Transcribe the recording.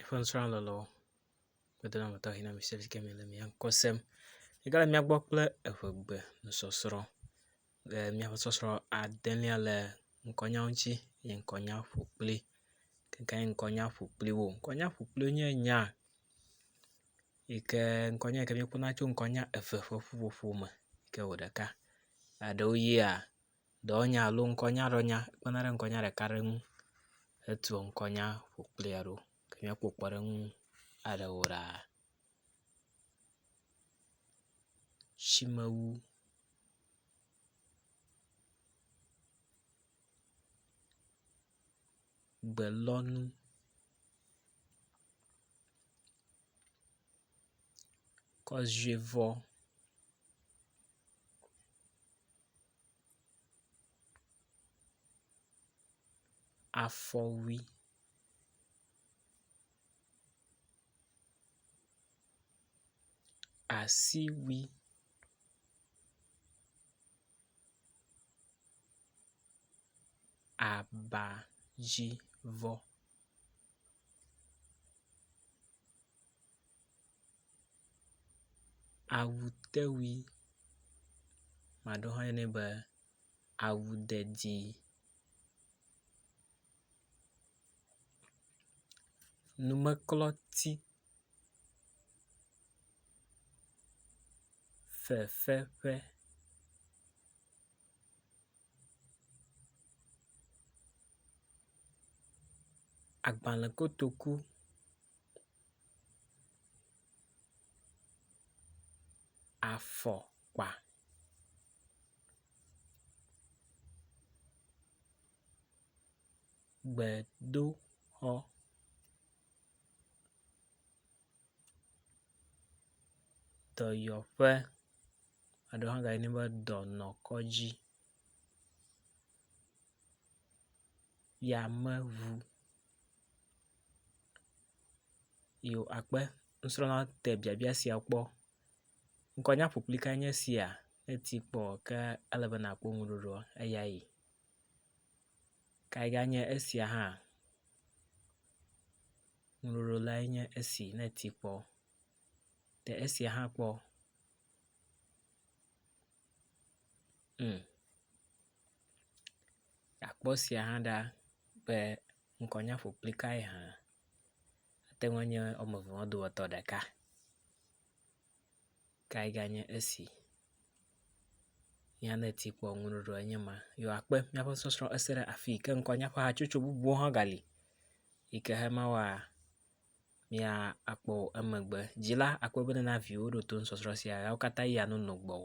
eƒe nusrɔ̃lɔlɔ kpɔtɔ la me tɔxɛ na mi se si ke me le mia ŋkɔ sem. Yi ke le mía gbɔ kple evegbe nusɔsrɔ̃ le míaƒe sɔsrɔ̃ adelia le ŋkɔnya ŋuti ye ŋkɔnya ƒo kpli gake nye ŋkɔnya ƒo kpli wo. Ŋkɔnya ƒo kpli wo nye nya yi ke ŋkɔnya yi ke míekpɔna tso ŋkɔnya eve ƒe ƒuƒoƒo me yi ke wɔ ɖeka. Eɖewo yia. Dɔwɔnya alo ŋkɔnya ɖe nya kpena ɖe ŋkɔnya ɖeka ɖe ŋu hetua ŋkɔnya ƒo kplia ɖo ke míakpɔ kpɔɖeŋu aɖewo ɖa. Tsimewu. Gbelɔnu. Kɔzuivɔ. afɔwui. Asiwui. Aba dzi vɔ. Awutewui, ame aɖewo hã yɔnɛ be awudedi. Numeklɔti, fefeƒe. Agbale kotoku. afɔkpa. Gbedoxɔ. Dɔyɔƒe alo hã gayɔnɛ be dɔnɔkɔdzi. Yameŋu. Yoo akpe nusrɔ̃la te biabia sia kpɔ. Ŋkɔ nye aƒuƒli kae nye esia ne eti kpɔ ke ele be nakpɔ ŋuɖoɖoa eyae. Kae ganye esia hã ŋuɖoɖo lae nye esi ne eti kpɔ. Te esia hã kpɔ. Umm. Akpɔ sia hã ɖa be ŋkɔnya ƒoƒli kae hã. Ate ŋu anye wɔme eve wo dometɔ ɖeka kae ganye esi. Nye ne ti kpɔ ŋu ɖoɖoa enye ma. Yo akpe míaƒe sɔsrɔ̃ ese ɖe afii ke ŋkɔnya ƒe hatsotso bubuwo hã gali yi ke hema wa mía akpɔ o emegbe. Dzila akpe be nana viwo ɖo to nusɔsrɔ̃ sia ya wo katã yia nono gbɔwò.